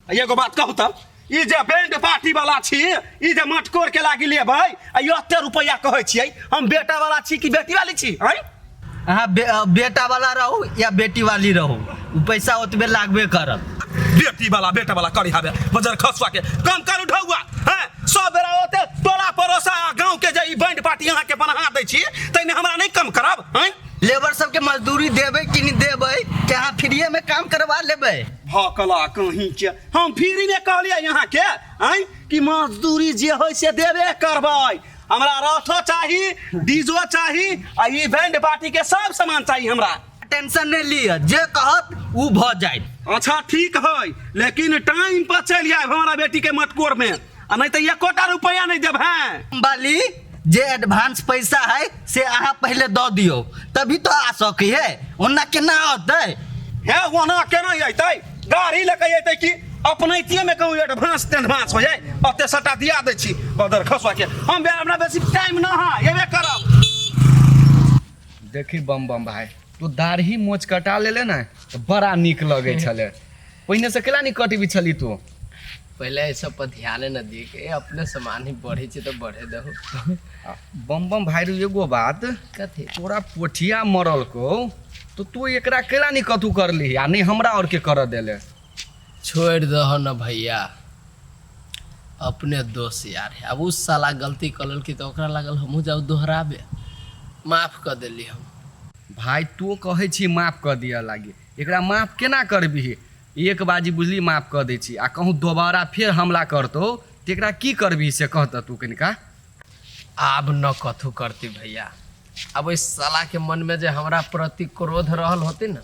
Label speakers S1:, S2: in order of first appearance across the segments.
S1: एगो बात कहू तब ई जे बैंड पार्टी वाला छी ई जे मटकोर के लागी लेबै आ ई एते रुपैया कहै छियै हम बेटा वाला छी कि बेटी वाली छी हैं अहाँ बे, अ,
S2: बेटा वाला रहू या बेटी वाली रहू उ पैसा ओतबे लागबे करत बेटी वाला बेटा
S1: वाला करी हबे बजर खसवा के कम करू ढौआ हैं सब बेरा ओते टोला पड़ोसा गांव के जे ई बैंड पार्टी अहाँ के बना दै छी तैने हमरा नहीं कम करब हैं लेबर सबके
S2: मजदूरी देबै कि नहि देबै कि अहाँ फ्रीएमे काम करबा लेबै भकला
S1: कहीं के हम फ्री में कहलियै यहाँ के आय कि मजदूरी जे होय से देबे करबै हमरा रथो चाही डीजो चाही आ ई बैंड पार्टी के सब सामान चाही हमरा टेंशन नहि लिअ
S2: जे कहत ओ भऽ जायत अच्छा ठीक
S1: है लेकिन टाइम पर चलि आयब हमारा बेटी के मटकोर में आ नहीं तो ये कोटा रुपया नहीं देब हैं बाली जे
S2: एडवांस पैसा है से अहाँ पहले दऽ दियौ तभी तो आ सकै है ओना केना औतै हे वहाँ
S1: केना अतै गाड़ी लेके अतै कि अपनैतिये में कहूँ एडवांस तेडवांस हो जाए अते सटा दिया दै छी बदर खसुआ के हम बे- हमरा बेसी टाइम ना है एबे करब देखी
S3: बम बम भाई तू दाढ़ी मोच कटा लेले ने तऽ बड़ा नीक लगै छलै पहिने से केला नहीं कट भी छली तू पहले ये सब
S4: पर ध्यान न दिए के अपने सामान ही बढ़े छे तो बढ़े दहो बम बम
S3: भाई रू एगो बात कथी तोरा
S4: पोठिया
S3: मरल को तो तू एकरा केला नहीं कतू कर ली आ नहीं हमरा और के कर देले छोड़
S4: दहो न भैया अपने दोस्त यार है अब उस साला गलती कलल की तो ओकरा लागल हमहू जाऊ दोहराबे माफ कर देली हम भाई तू
S3: कहे छी माफ कर दिया लागे एकरा माफ केना करबिहि? एक बाजी बुझली माफ कऽ दै छी आ कहूँ दोबारा फेर हमला करतौ तऽ एकरा की करबिहि से कह तऽ तू कनिका। आब
S4: न कथू करती भैया। आब ओइ साला के मन में जे हमरा प्रति क्रोध रहल होती न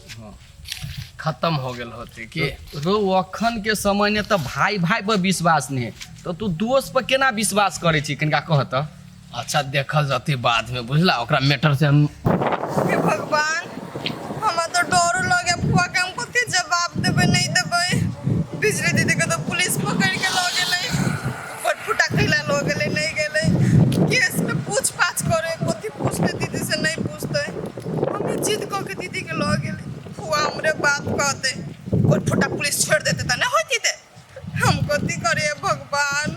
S4: खतम हो गेल होती कि। रौ अखन
S3: के समय ने तऽ भाई-भाई पर विश्वास नहिं तऽ तू दोस्त पर केना विश्वास करै छी कनिका कह तऽ। अच्छा देखल
S4: जती बाद में बुझला ओकरा मैटर से हम हे भगवान
S5: हमरा तो डरो लगे फुआ के हम कथी जवाब देबे नहीं देबे बिजली दीदी के तो पुलिस पकड़ के लऽ गेलै फटफुटा खैला लऽ गेलै नहीं गेलै केस में पूछ पाछ करे कथी पूछते दीदी से नहीं पूछते हमें जिद कऽ के दीदी के लऽ गेलै फुआ हमरे बात कहते फटफुटा पुलिस छोड़ देते तऽ नहि होती ते हम कथी करिए भगवान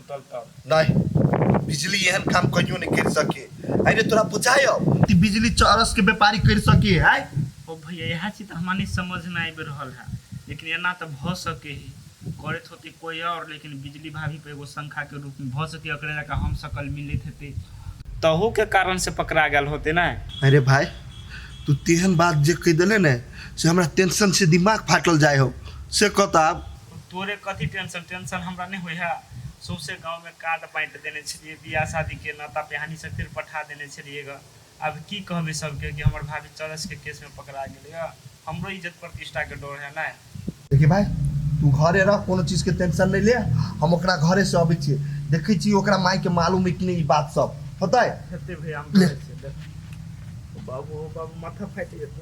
S6: नहीं बिजली
S7: एहन काम कहियो नहीं कर सके अरे तोरा बुझाय कि बिजली चरस के व्यापारी कर सके है ओ भैया यह
S6: चीज तो हमारे समझ में आबि रहल है लेकिन एना तो भ सके ही करत होते कोई और लेकिन बिजली भाभी पे एगो शंखा के रूप में भ सके एकरे जका हम सकल मिलित हेते तहू के कारण से पकड़ा गल होते ना अरे भाई
S7: तू तेहन बात जे कह दिले ने से हमरा टेंशन से दिमाग फाटल जाय हो से कहता तोरे कथी
S6: टेंशन? टेंशन हमरा नै होइए। सौंसे गाँवमे कार्ड बाँटि देने छेलिऐ। बिआह-शादीके नाता-पिहानी सभ फेर पठा देने छेलिऐग। आब की कहबै सभकेँ कि हमर भाभी चरसके केसमे पकड़ा गेलैए। हमरो इज्जत-प्रतिष्ठाके डर हए ने। देखही भाय,
S7: तूँ घरे रह, कोनो चीजके टेंशन नै ले। हम ओकरा घरेसँ अबै छिऐ। देखै छिऐ ओकरा माएके मालूम हए कि नै ई बात सभ। होतै? हेतै भैया, हम देखै
S6: छिऐ। देखही। ओ बाबू, ओ बाबू, माथा फाटि जेतौ।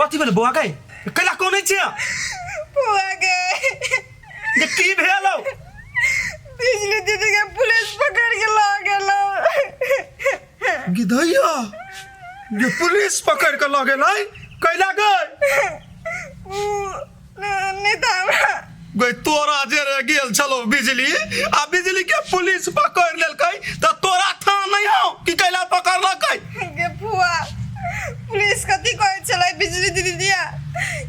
S1: कथी भेल बौआ गए कैला कोने छियै बौआ
S5: गए जे
S1: की भेल हौ
S5: बिजली दीदी के पुलिस पकड़ के ला गेल गिधैया
S1: जे पुलिस पकड़ के लगे लै कैला गए
S5: गई तोरा
S1: जे रह गेल छलो बिजली आ बिजली के पुलिस पकड़ लेलकै त तोरा था नहीं हो कि कैला पकड़ लकै गे फुआ
S5: पुलिस कथी कहै छलै बिजली दीदी दिया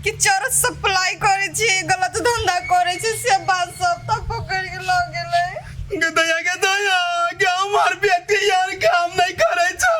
S5: कि चोर सप्लाई करै छी गलत धंधा करै छी से बात सब तऽ पकड़ के लऽ गेलै गे दया गे
S1: दया के हमार बेटी यार काम नहीं करे छै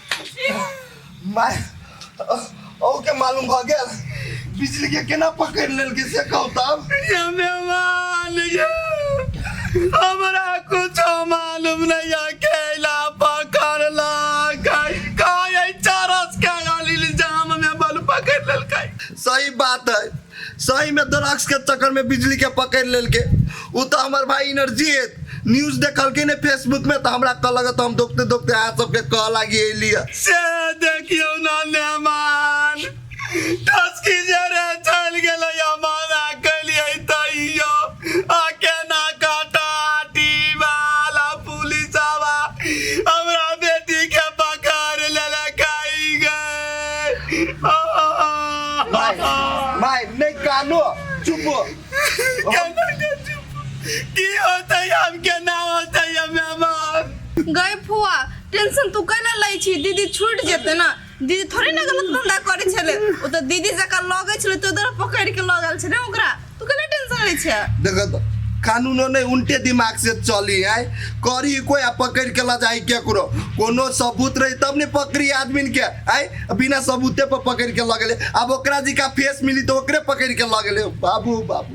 S7: माय ओ के मालूम भ गेल बिजली के केना पकड़ लेलकै से कहू तब ये मेहमान
S1: ये हमरा कुछ मालूम नहीं अकेला पकड़ला कई कई चरस के गाली जाम में बल पकड़ ललकई सही बात
S7: है सही में ड्रग्स के चक्कर में बिजली के पकड़ लेल के उ तो हमार भाई एनर्जी है न्यूज देखल के ने फेसबुक में तो हमरा कह लगे तो हम दोखते दोखते हाथ सबके कह लागी एली है। से देखियो
S1: ना नेमान टस्की जरे चल गेलै अमान आ गेलियै तैयो आ केना काटा टीबाल पुलिसवा हमरा बेटी के पकड़ लेलकाई गए माय माय
S7: नहीं कानो चुप हो। केना
S1: के चुप की होते हम केना होते हमें मार गए फुआ
S5: टेंशन तू कैला लै छी दीदी छूट जेते ना दीदी थोड़े ने गलत धंधा करै छलै ओ तऽ दीदी जकाँ लगै छलै तऽ उधर पकड़ि के लगल छलै ओकरा तू कने टेंशन लै छै देख त
S7: कानूनो नहि उल्टे दिमाग से चली है करी कोई आ पकड़ के ल जाई केकरो कोनो सबूत रही तब ने पकड़ी आदमी के आय बिना सबूते पर पकड़ के लगले अब ओकरा जी का फेस मिली तो ओकरे पकड़ के लगले बाबू बाबू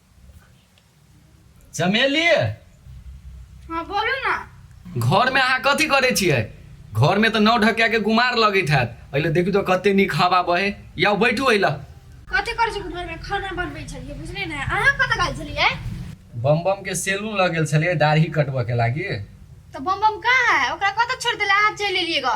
S3: चमेली
S5: हाँ बोलू ना घर में अहाँ
S3: कथी करे छियै घर में तो नौ ढकिया के गुमार लगैत हैत अइले देखू तो कते नीक हवा बहे या बैठू अइला कथी करै छी
S8: घर में खाना बनबै छलियै बुझलियै ने अहाँ कतऽ गेल छलियै बम बम
S3: के सैलून लग गेल छलियै दाढ़ी कटबऽ के लागी तऽ बम बम
S8: कहाँ है ओकरा कतऽ छोड़ि देले अहाँ चलि एलियै ग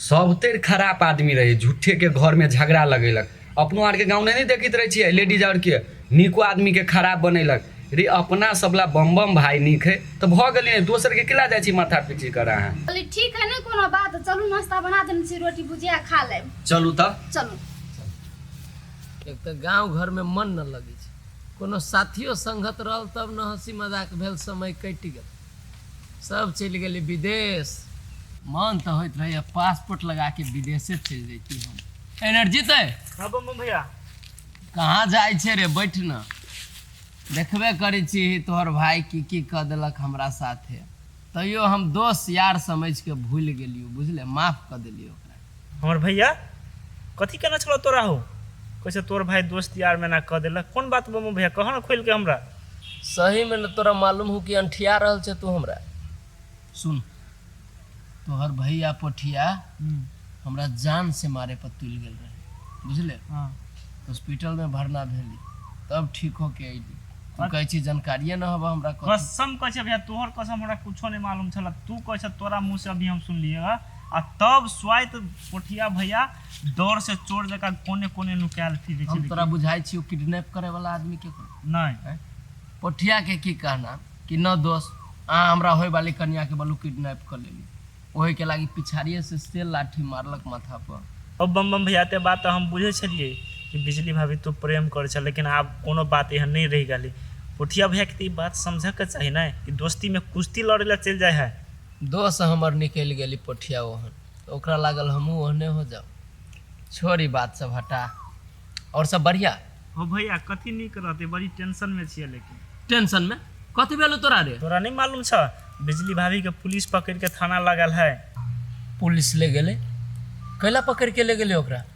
S3: सभतरि खराप आदमी रहै झूठेके घरमे झगड़ा लगेलक अपनो आरके गाँवमे नहि देखैत रहै छियै लेडीज आरके नीको आदमीके खराप बनेलक रे अपना सबला बम बम भाय नीक है तऽ भऽ गेलै ने दोसरके किला जाइ छी माथा पीची कर अहाँ कहली ठीक है नहि कोनो
S8: बात चलू नाश्ता बना देने छी रोटी भुजिया खा लेब चलू तऽ चलू
S4: एक तऽ गाँव घरमे मन न लगै छै कोनो साथियो संगत रहल तब न हँसी मजाक भेल समय कटि गेल सब चलि गेलै विदेश मन तऽ होइत रहैए पासपोर्ट लगा के विदेशे चलि जैती हम एनर्जी तऽ हाँ बम बम
S6: भैया कहाँ
S4: जाइ छै रे बैठ न देखबे करै छी तोहर भाय की की कऽ देलक हमरा साथे तैयो हम दोस्त यार समझि के भूलि गेलियो बुझले माफ कऽ देलियो ओकरा हमर भैया
S6: कथी केने छलऽ तोरा हो कैसे तोर भाय दोस्त यार में ना कह देलक कौन बात बमो भैया कह ना खोल के हमरा सही में
S4: न तोरा मालूम हो कि अंठिया रहल छे तू हमरा सुन तोहर भैया पोठिया हमरा जान से मारे पर तुल गेल रहे बुझले हाँ हॉस्पिटल में भरना भेली तब ठीक होके अइली तू कहै छी जानकारिए न हबऽ हमरा कथी कसम कह भैया
S6: तोहर कसम हमरा कुछो नहीं मालूम छल तू कह तोरा मुंह से अभी हम सुनलिए आ तब स्वाइत कोठिया भैया डर से चोर जका कोने कोने नुकायल फिरे हम तोरा छलै बुझाइ छियौ
S4: किडनैप करे वाला आदमी के नहि
S6: पोठिया
S4: के की कहना कि न दोस्त अहाँ हमरा होय वाली कन्या के बलू किडनैप कर लेली ओहि के लागी पिछाड़िए से से लाठी
S6: मारलक माथा
S4: पर ओ बम
S6: बम भैया ते
S4: बात
S6: तऽ हम
S4: बुझै
S6: छलियै कि बिजली भाभी तू प्रेम करै छल लेकिन आब कोनो बात एहन नहि रहि गेलै पोठिया भैया के तऽ ई बात समझऽ के चाही ने कि दोस्ती में कुश्ती लड़े ला चलि जाइ है दोह से हमर
S4: निकलि गेल ई पोठिया ओहन तऽ ओकरा लागल हमहूँ ओहने हो जाउ छोड़ ई बात सब हटा आओर सब बढ़िया हो भैया कथी
S6: नीक रहते बड़ी टेंशन में छिए लेकिन टेंशन में
S4: कथी भेलौ तोरा रे तोरा नहीं मालूम छ
S6: बिजली भाभी के पुलिस पकड़ के थाना लगल है पुलिस
S4: ले गेलै कैला पकड़ के ले गेलै ओकरा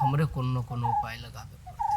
S4: हमरे कोनो ने कोनो उपाय लगाबे पड़तै